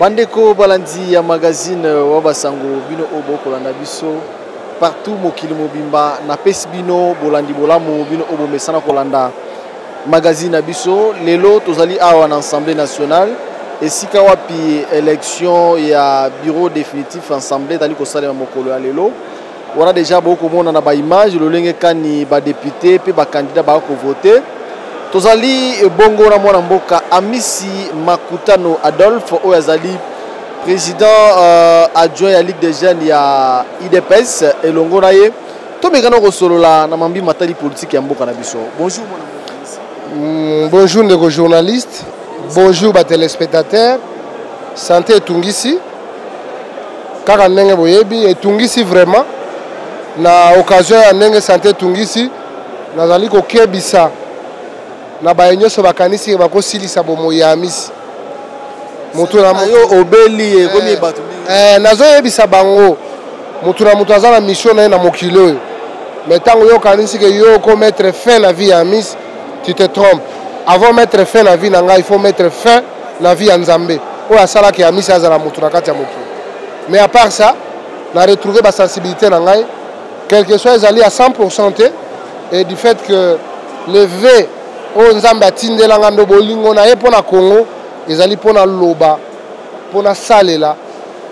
bandeko balandi ya magazine wa basango bino oyo bokolanda biso partout mokili mobimba napesi bino bolandi bolamu bino oyo bomesana kolanda magazine na biso lelo tozali awa na assemblée nationale esika wapi élection ya bureau définitif assemblée etali kosalema mokolo ya lelo wana deja bokomona na baimage lolenge kani badepute mpe bakandida baya kovote tozali ebongo na mwana mboka amisi makutano adolphe oyo azali président euh, adjoint ya ligue des jeunes ya idps elongo na ye tomekana kosolola na mambi matali politike ya mboka na biso bonjour mwana mm, bonjour ndeko journaliste bonjour batelespectateur sante etungisi kaka ndenge boyebi etungisi vraiment na occasion ya ndenge sante etungisi nazali kokebisa na baye nyonso bakanisi bakosilisa bomoi ya amisi motu na yo obeli ekomi eh, bato eh, nazoyebisa bango motu na moto aza na mission na ye na mokili oyo mais ntango yo okanisi ke yo oko mettre fin na vie ya amisi tu te trompe avant mettre fin na vie na ngai il faut mettre fin na vie ya nzambe oyo asalaki ya misi azala moto na kati ya mokili mais à part ça na retrouve basensibilité na ngai quelque soit ezali ya 100 pourcent te et du fait que le ve oyo nzambe atindela ngai ndo bolingo na ye mpo na congo ezali mpo na loba mpo na salela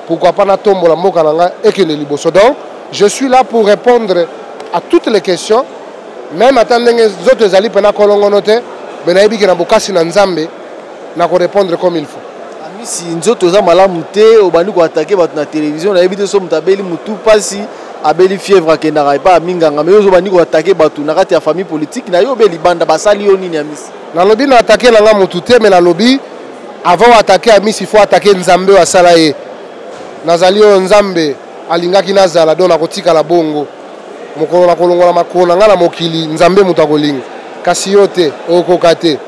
pourquoi pas natombola mboka na ngai ekende liboso donc je suis là pour répondre à toutes les questions même ata ndenge nzoto ezali mpena kolongono te me nayebi ke na bokasi na nzambe na ko répondre comme il faut amisi nzoto eza malamu te obandi koatake bato na televizio nayebi te so moto abeli motu mpasi abeli fièvre akendaka epai ya minganga mais yo ozobandi koatake bato na kati ya famille politique na yo obe libanda basali yo nini amisi nalobi na atake na nga motu te me nalobi avant oatake amisi fo atake nzambe oyo asala ye nazali oyo nzambe alingaki nazala donc nakotikala bongo mokolo nakolongola makolo na ngai na mokili nzambe moto akolinga kasi yo te okoka te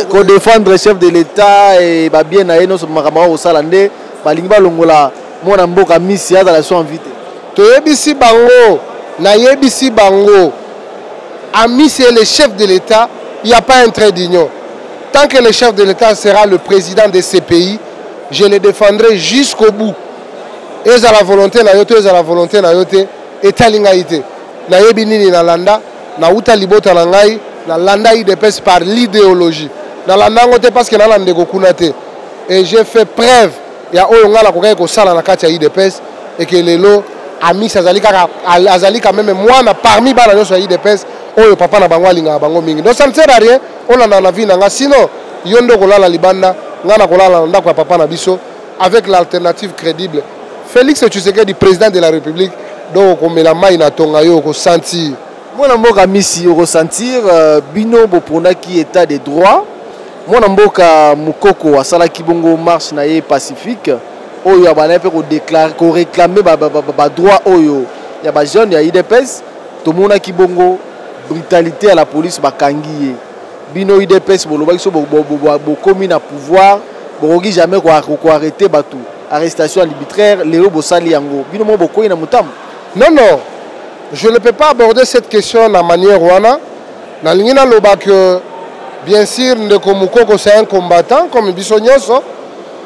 kodefendre chef de l'état e babien na ye nyonso makambo aka kosala nde balingi balongola mwana mboka misi azala so envi te toyebisi bango nayebisi bango amisi ye le chef de l'état il n'y a pas un trait d'union tant que le chef de l'état sera le président de ce pays je le défendrai jusqu'au bout ezala volonté na yo to ezala volonté na yo te etali ngai te nayebi nini nalanda nauta libota na ngai nalanda idps par l'idéologie nalanda yango te parce que nala ndeko kuna te et j'ai fait preuve ya oyo ngai nakokaki kosala na kati ya idps eke lelo amis azali kaka azali quand même mwana parmi bana nyonso ya idps oyo papa na bango alingaka bango mingi donc ça ne sert à rien Olanda na vie na nga sinon yo nde okolala libanda nga na kolala na ndako ya papa na biso avec l'alternative crédible Félix Tshisekedi président de la République donc okomela mai na tonga yo okosentir mwana mboka misi okosentir euh, bino boponaki état de droit mwana mboka mokoko asalaki bongo marche na ye pacifique oyo abandaki mpe koreklame badroit oyo ya bajeune ya idps tomonaki bongo Brutalite ya la police bakangi ye. Bino UDPS bolobaki so bokomi na pouvoir bokoki jamais ko arrêter batu. Arrestation arbitraire lelo bosali yango. Bino mo bokoyi na mutamu. Non non. Je ne peux pas aborder cette question na manière wana. Nalingi naloba que bien sûr ndeko Mukoko c'est un combattant comme biso nyonso.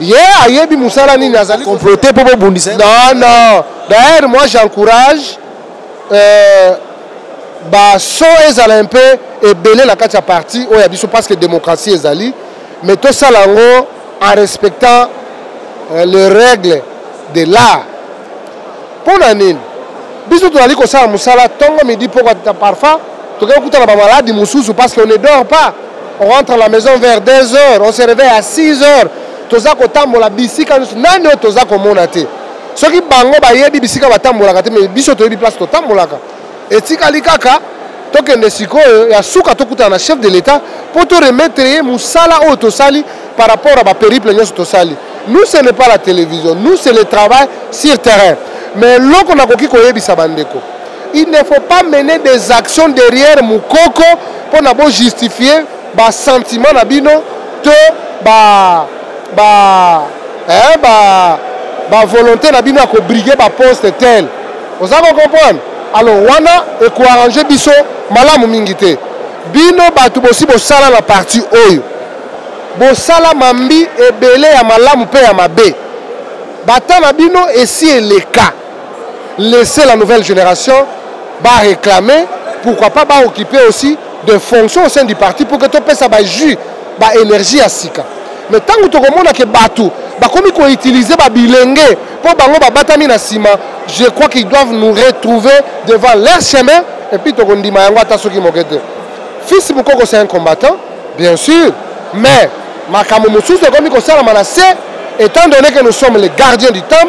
ye ayebi musala nini azali comploter mpo bobundisa non non d'ailleurs moi j'encourage euh, baso ezala mpe ebele na kati ya parti oyo ya biso parce que démocratie ezali mais tosala yango en respectant euh, le règle de l'art mpo na nini biso tozali kosala mosala ntongo midi mpo kata parfois tokei kutana bamaladi mosusu parce que on ne dort pas on rentre à la maison vers 2 heures on se réveille à 6 heures toza kotambola bisika nyonso nani oyo toza komona te soki bango bayebi bisika batambolaka te mais biso toyebi place totambolaka etikali kaka tokende sikoyo ya suka tokutana na chef de l'etat mpo to remettre ye mosala oyo tosali par rapport à baperiple nyonso tosali nous ce n'est pas la télévision nous c'est le travail sur terrain mais eloko nakoki koyebisa bandeko il ne faut pas mener des actions derrière mokoko mpo na bojustifier ba sentiment na bino to ba ba eh, ba ba volonté na bino ya kobrige ba poste tel oza ko comprendre alors wana ekoarrange biso malamu mingi te bino bato bosi bosala na parti oyo bosala mambi ebele ya malamu mpe ya mabe bata na bino esi eleka laisser la nouvelle génération ba réclamer pourquoi pas ba occuper aussi de fonctions au sein du parti pour que topesa ba jus ba énergie ya sika mais ntango tokomona ke bato bakomi koutilize babilenge mpo bango babatami na nsima je crois qu'ils doivent nous retrouver devant leur chemin et puis tokondima yango ata soki moke te fils mokoko c'est un combattant bien sûr mais makambo mosusu ekomi kosalama na se étant donné que nous sommes les gardiens du temps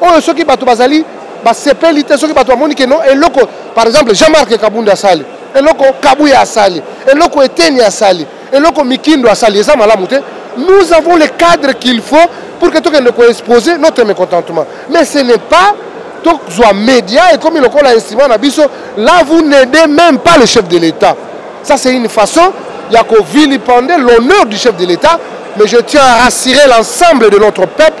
oyo soki bato bazali basepeli te soki bato bamoni keno eloko par exemple jean marc kabunda asali eloko kabuya asali eloko eteni asali eloko mikindo asali eza malamu te nous avons le cadre qu'il faut pour que tokende koexpose notre mécontentement mais ce n'est pas tozwa média ekomi lokola instrument na biso là vous n'aidez même pas le chef de l'état ça c'est une façon ya kovilipande l'honneur du chef de l'état mais je tiens à rassurer l'ensemble de notre peuple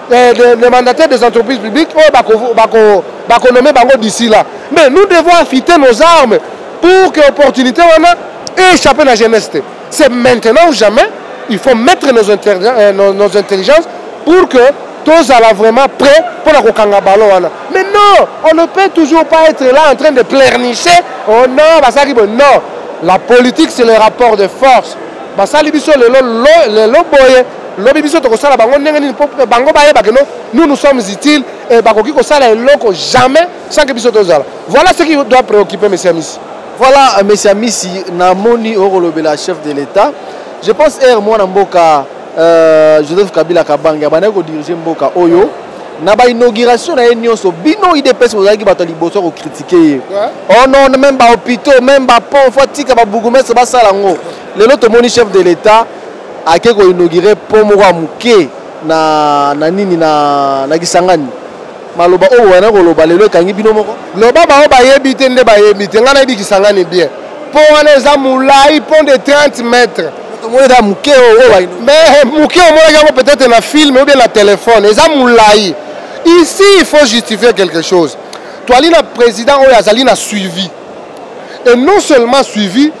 les, les, les mandataires des entreprises publiques oyo oh, bakonome bako, bango d'ici là mais nous devons affiter nos armes pour que opportunité wana échappe na jeunesse te c'est maintenant ou jamais il faut mettre nos, euh, nos, nos intelligences pour que tozala vraiment prêt mpo na kokanga balo wana mais non on ne peut toujours pas être là en train de pleurnicher oh non basalaki boye non la politique c'est le rapport de force basali biso lelo lelo boye lobi biso tokosala bango ndenge nini mpo bango bayeba keno nous nous sommes utiles et bakoki kosala eloko jamais sans que biso tozala voilà ce qui doit préoccuper monsieur amisi voilà euh, monsieur amisi namoni okolobela chef de l'état je pense ere mwana mboka euh, joseph kabila kabange abandaki kodirige mboka oyo na bainauguration na ye nyonso bino idps bozalaki bato ya liboso ya kokritike ye oh non meme bahôpitaux meme bapont fo atika babourgmestre basala yango lelo tomoni chef de l'état ake ko inaugure pont moko ya moke na, na nini na, na Kisangani maloba oyo wana koloba lelo ekangi bino moko loba baoyo bayebi te nde bayebi te ngai nayebi Kisangani bien pont wana eza molai pont de 30 mètres omonaka moke oyo mais moke omonaki yango peut-être na film ou bien na téléphone eza molai ici il faut justifier quelque chose toali na président oyo azali na suivi et non seulement suivi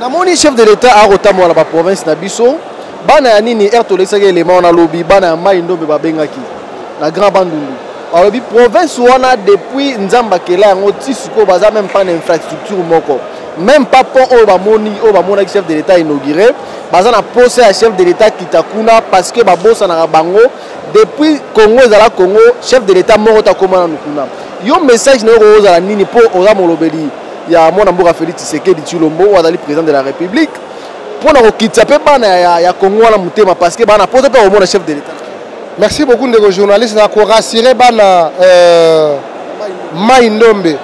namoni chef de l'etat akotambola na baprovince na biso bana ya nini erte olekisaki elema wana alobi bana ya mai ndombe babengaki na grand bandundu alobi province wana depuis nzambe akela yango ti sikoyo baza meme pas na infrastructure moko meme pas pont oyo bamoni oyo bamonaki chef de l'etat inauguré baza na posa ya chef de l'etat kita kuna parce que babosanaka bango depuis congo ezala congo chef de l'état moko takoma nanu kuna yo message na yo kokozala nini mpo oza molobeli ya mwana mboka félix tshisekedi tshilombo oyo azali président de la république mpo na kokitisa mpe bana ya, ya congo wana motema parce que bana mposa mpe komona chef de l'état merci beaucoup ndeko journaliste na korassure bana euh, mai ndombe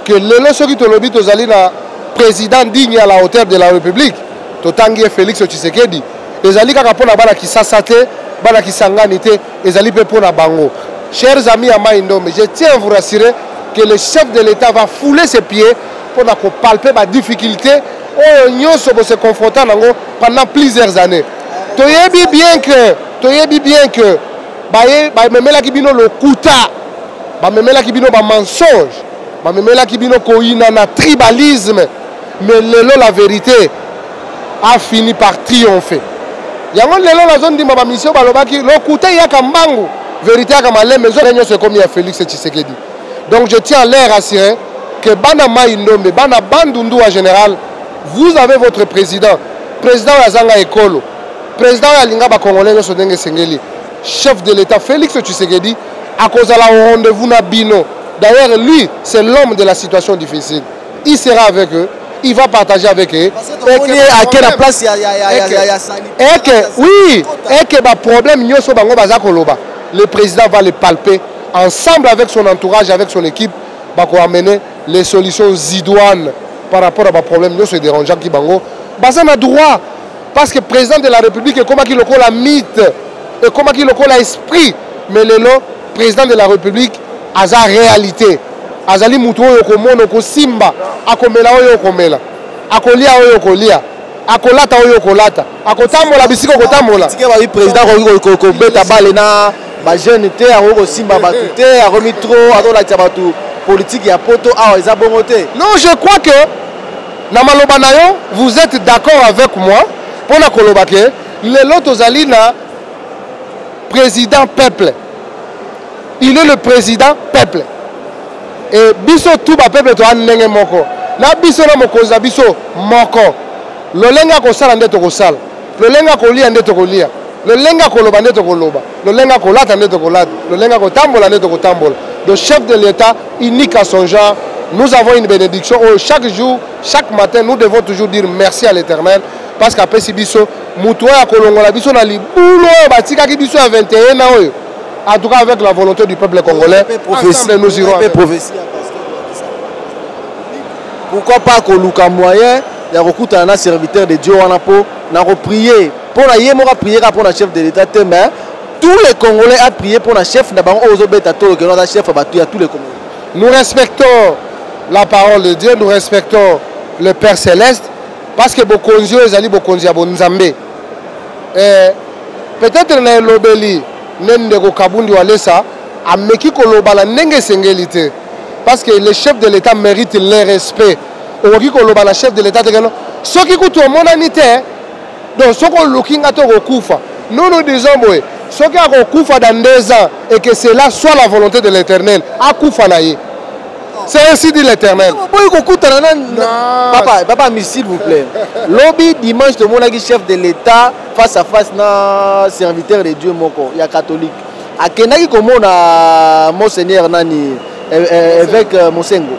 que lelo soki tolobi tozali na président digne à la hauteur de la république totangi ye félix tshisekedi ezali kaka mpo na bana kisasa te bana kisangani te ezali mpe mpo na bango chers amis ya mai ndombe je tiens à vous rassurer que le chef de l'état va fouler ses pieds mpo na kopalpe badifficulté oyo nyonso bose confronta nango pendant plusieurs années toyebi bien que toyebi bien que bamemelaki bino lokuta bamemelaki bino bamensonge bamemelaki bino koyinana tribalisme mais lelo la vérité a fini par triomphe yango lelo nazondima bamisio balobaki lokuta eyaka mbangu verité yaka malembe ezoka nyonso ekomi ya félix tshisekedi donc je tiens à l'air assuré que bana mai ndombe bana bandundu en général vous avez votre président président oyo azanga ekolo président oyo alinga bacongolais nyonso ndenge esengeli chef de l'état félix tshisekedi akozala au rendez-vous na bino d'ailleurs lui c'est l'homme de la situation difficile il sera avec eux il va partager avec eux eke na place ya ya sani eke oui eke ba problème nyoso bango baza koloba le président va le palper ensemble avec son entourage avec son équipe bako amener les solutions idoines par rapport à ba problème nyoso dérangeant ki bango baza na droit parce que président de la république ekomaki lokola mythe ekomaki lokola esprit mais lelo President de la Republique aza realite, azali mutu oyo okomona okosimba, akomela oyo okomela, akolia oyo okolia akolata oyo okolata akotambola bisika okotambola tike babi président akoki kobeta bale na bajeune te akoki kosimba bato eh. te akomi trop azolakisa bato politike ya poto awa eza bongo te non je crois que na maloba na yo vous êtes d'accord avec moi mpo na koloba ke lelo tozali na président peuple il est le président peuple e biso tu bapeuple toya ndenge moko na biso na mokonzi na biso moko lolenge akosala nde tokosala lolenge akolia nde tokolia lolenge akoloba nde tokoloba lolenge akolata nde tokolata lolenge akotambola nde tokotambola le chef de l'état unique à son genre nous avons une bénédiction oyo chaque jour chaque matin nous devons toujours dire merci à l'éternel parce qu'apesi biso moto oyo akolongola biso na libulu oyo batikaki biso ya 21 na oyo en tout cas avec la volonté du peuple congolais ensemble nous irons pourquoi pas koluka moyen ya kokutana na serviteur de dieu wana mpo na koprie mpo na ye moko aprie kaka mpo na chef de l'état te mais tous les congolais aprie mpo na chef na bango oyo ozobeta tolo keno aza chef ya bato ya tous les congolais nous respectons la parole de dieu nous respectons le père céleste Parce que bokonzi oyo ezali bokonzi ya bonzambe. Eh, peut-être na elobeli ne ndeko Kabundi Walesa ameki koloba na ndenge esengeli te. Parce que le chef de l'État mérite le respect. Okoki koloba na chef de l'État te keno soki kutu omonani te donc soki oluki nga te okokufa nono disons boye soki akokufa dans deux ans et que cela soit la volonté de l'éternel akufa na ye C'est ainsi dit l'éternel. Boy kokutana na papa papa ami s'il vous plaît. Lobi dimanche tomonaki chef de l'État face à face na serviteur de Dieu moko ya catholique. Akendaki komona euh, monseigneur nani euh, euh, évêque Mosengo.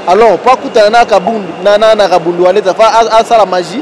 Alors pas kutana na kabundu na na kabundu aleta fa asala magie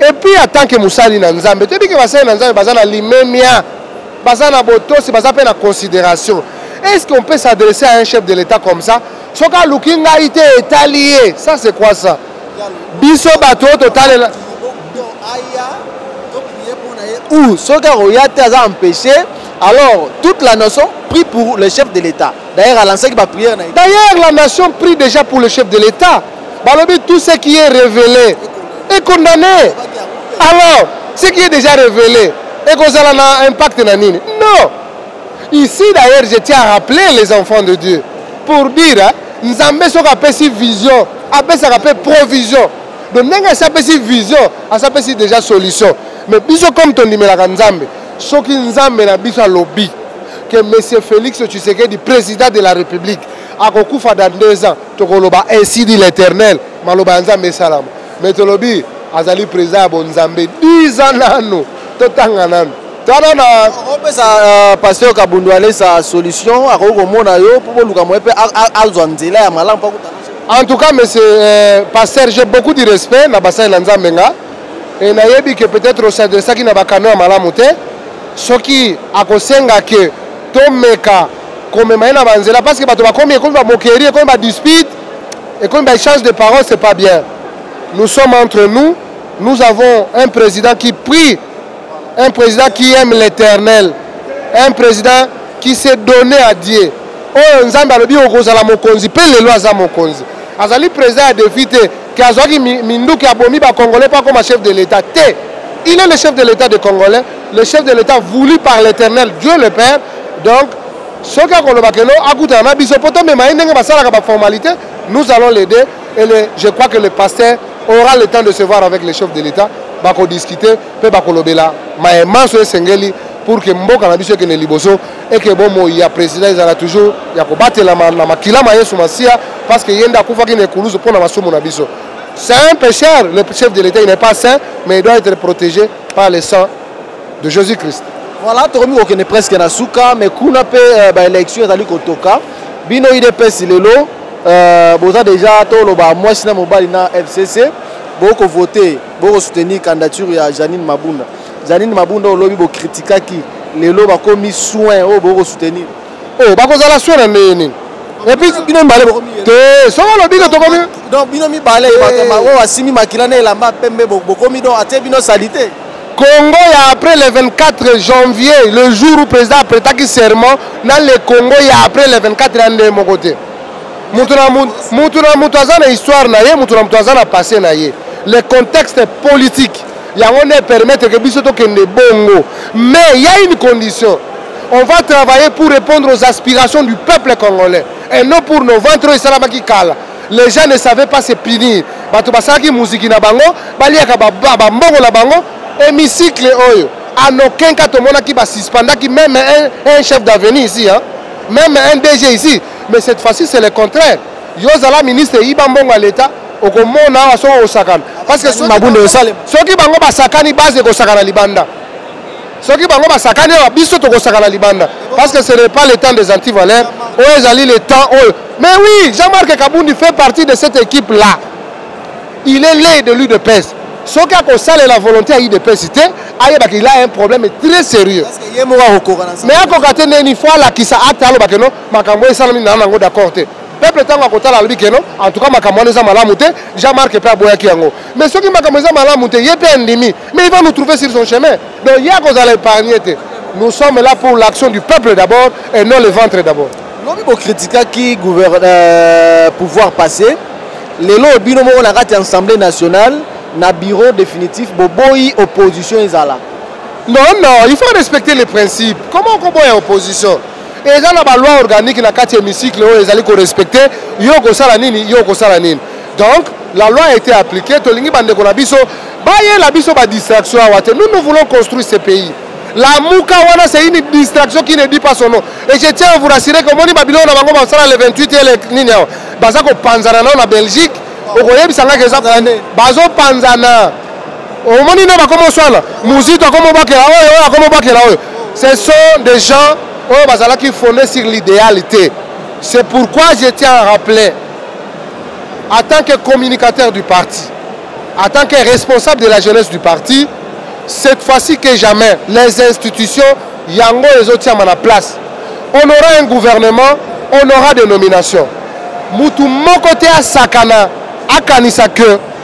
Et puis en tant que musali na Nzambe, toyebi que basali na Nzambe baza na limemia, baza na botosi, baza pe na considération. Est-ce qu'on peut s'adresser à un chef de l'État comme ça? Soki aluki ngai te etali ye, ça c'est quoi ça? Biso bato oyo totalela ou soki akoya te aza empêché alors toute la nation prie pour le chef de l'état d'ailleurs alansaki baprière na ye d'ailleurs la nation prie déjà pour le chef de l'état balobi tout ce qui est révélé est condamné alors ce qui est déjà révélé ekozala na impact na nini non ici d'ailleurs je tiens à rappeler les enfants de dieu pour dire hein, nzambe soki apesi vision apesaka mpe provision donc ndenge asi apesi vision asi apesi déjà solution mais biso comme tondimelaka nzambe soki nzambe na biso alobi que monsieur félix tshisekedi président de la république akokufa dans deux ans tokoloba ainsi dit l'éternel maloba ya nzambe esalama mais tolobi azali président ya bonzambe 10 ans nano totanga nano tala na opesa euh, pasteur kabundu alesa solution akoki komona yo mpo boluka moye mpe azwa nzela ya malamu mpo akutana en tout cas monsieur euh, pasteur j'ai beaucoup du respect na basali na nzambe nga e nayebi ke peut-être osadresaki na bakano ya malamu te soki akosenga ke tomeka komema ye na banzela parce que bato bakomi ekomi bamokerie ekomi badispute ekomi baéchange de parole c'est pas bien nous sommes entre nous nous avons un président qui prie un président qui aime l'éternel un président qui s'est donné à dieu oyo nzambe alobi okozala mokonzi mpe lelo aza mokonzi azali président ya défi te ke azwaki minduki abomi bacongolais mpo akoma chef de l'état te il est le chef de l'état de congolais le chef de l'État voulu par l'Éternel Dieu le Père donc soki akoloba keno akutana na biso mpo tomema ye ndenge basalaka baformalité nous allons l'aider et le, je crois que le pasteur aura le temps de se voir avec le chef de l'État bakodiscute mpe bakolobela maye manso esengeli pour que mboka na biso ekende liboso eke bomoi ya président ezala toujours ya kobatelama na makila ma yesu masiya parce que ye nde akufaki na ekulusu mpo na masumu na biso c'est un pécheur le chef de l'état il n'est pas saint mais il doit être protégé par le sang de jésus christ voilà tokomi kokende presque na suka mais kuna mpe euh, baélection ezali kotoka bino idps lelo euh, boza déjà toloba mwasi na mobali na fcc bokovote bokosoutenir candidature ya janine mabunda janine mabunda olobi bokritikaki lelo bakomi soin oyo bokosoutenir Oh, bakozala swe na ndenge nini? epuis bino mibale te soki olobi ke tokomi donc bino mibale eh. bato oyo asimbi makila na elamba pembe bokomi donc atie bino salite congo ya après le 24 janvier le jour où président apretaki serment na le congo ya après le 24 ya ndenge moko te moto na moto aza na histoire na ye moto na moto aza na passé na ye le contexte politique yango nde epermettre ke biso tokende bongo mais ya une condition on va travailler pour répondre aux aspirations du peuple congolais et non pour nos ventres oyo esalamaki kala les gens ne savaient pas se punir bato basalaki muziki na bango baliaka bambongo na bango hémicycle oyo en aucun cas tomonaki basuspendaki même un, un chef d'avenue ici hein? même un dg ici mais cette fois-ci c'est le contraire Yo zala ministre yiba mbongo ya leta okomona awa soki okosakana parce que soki mabunda esalema soki bango basakani base ekosakana libanda soki bango basakani awa biso tokosakana libanda parce que ce n'est pas le temps des antivaleurs oyo ezali le temps oyo mais oui Jean-Marc Kabundi fait partie de cette équipe là il est l'ai de l'UDPS soki akosalela volonté ya udps te ayebaka il a un problème très sérieux mais akoka te neni fo alakisa ata alobake no makambo esalami na nango d'accord te peuple ntango akotala alobi keno en tout cas makambo wana eza malamu te jean marc mpe aboyaki yango mais soki makambo eza malamu te ye mpe andimi mais il va nous trouver sur son chemin donc ye akozala épargne te nous sommes là pour l'action du peuple d'abord et non le ventre d'abord lobi bocritikaki euh, pouvoir passé lelo bino moko na kati ya assemblée nationale na bureau définitif boboyi opposition ezala non non il faut respecter les principes comment okoboya opposition eza na baloi organique na kati ya hémicycle oyo ezali korespecte yo okosala nini yo okosala nini donc la loi a été appliquée tolingi bandeko na biso bayela biso badistraction awa te nous nous voulons construire ce pays la muka wana c'est une distraction qui ne dit pas son nom et je tiens à vous rassurer que omoni babiloko na bango basala le 28 ele nini awa baza kopanzana nao na belgique okoyebisa nga ke bazopanzana omoni nde bakomoswana muzito akomobakela oyo oyo akomobakela oyo ce sont des gens oyo bazalaki fonde sur l'idéal te c'est pourquoi je tiens à rappeler en tant que communicateur du parti en tant que responsable de la jeunesse du parti cette fois-ci que jamais les institutions yango ezotiama na place on aura un gouvernement on aura des nominations mutu moko te asakana akanisa que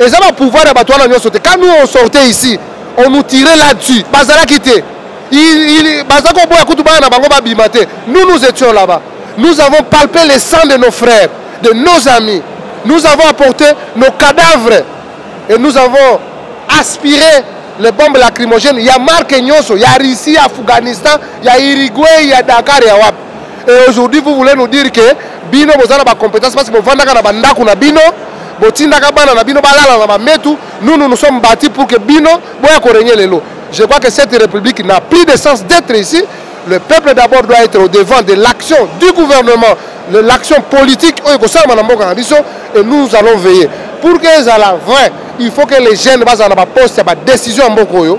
eza ba pouvoir ya bato wana nyonso te quand nous on sortait ici on nous tirait là-dessus bazalaki te baza koboya kutu bana na bango babima te nous nous étions là-bas nous avons palpé les sangs de nos frères de nos amis nous avons apporté nos cadavres et nous avons aspiré les bombes lacrymogènes ya marque nyonso ya russie ya afghanistan ya uruguay ya dakar ya wapi Et aujourd'hui vous voulez nous dire que bino boza na ba compétences parce que bovandaka na bandako na bino botindaka bana na bino balala na bametu nous nous nous sommes bâtis pour que bino boya korenye lelo je crois que cette république n'a plus de sens d'être ici le peuple d'abord doit être au devant de l'action du gouvernement l'action politique oyo ekosalama na mboka na biso et nous allons veiller pour que ezala vrai il faut que les jeunes bazala na baposte ya badécision ya mboka oyo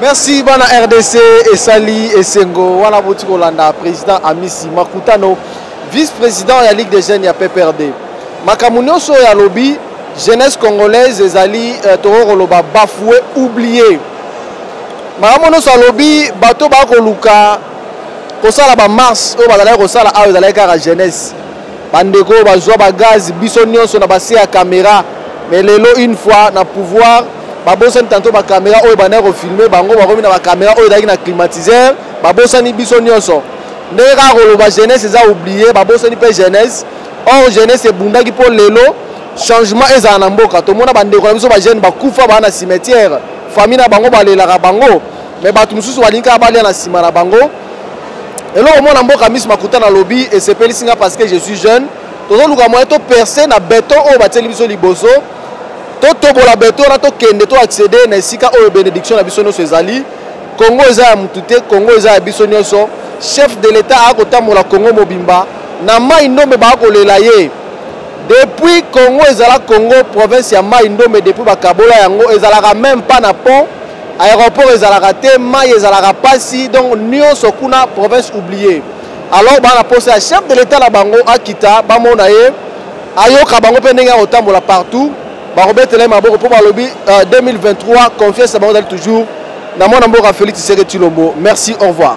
Merci bana RDC esali esengo wana boti kolanda president Amisi Makutano vice-président ya Ligue des jeunes ya PPRD makambo nyonso oyo alobi jeunesse congolaise ezali euh, tokoki koloba bafoue oublie makambo nyonso alobi bato bakoluka kosala bamarche oyo bazalaki kosala awa ezalaki kaka jeunesse Bandeko oyo bazwa ba gaz biso nionso na base ya camera mais lelo une fois na pouvoir babosani tanto ba camera oyo ebandaki kofilme bango bakomi na ba camera oyo ezalaki na climatiseur babosani biso nionso ndenge kaka koloba jeunesse eza oublie babosani mpe jeunesse or jeunesse ebundaki mpo lelo changement ezala na mboka tomona bandeko na biso bajeune bakufa baa na cimetière famille na bango balelaka bango mais bato mosusu balingi kaka balia na nsima na bango eloko mwana mboka miso makuta nalobi esepelisi nga parce que je suis jeune tozoluka moyen toperce na beton oyo batieli biso liboso totobola beton wana tokende to accédé na esika oyo bénédiction na biso nyonso ezali congo eza ya motu te congo eza ya biso nyonso chef de l'état akotambola congo mobimba na mai ndombe bakolela ye depuis congo ezala congo province ya mai ndombe depuis bakabola yango ezalaka meme pas na pont aéroport ezalaka te mai ezalaka pasi donc nionso kuna province oublier alors bana posa ya chef de l'état na bango akita bamona ye ayoka bango mpe ndenge akotambola partout bakobetela ye maboko mpo balobi 2023 euh, confiance na bango ezali toujours na mwana mboka félix tshisekedi tshilombo merci au revoir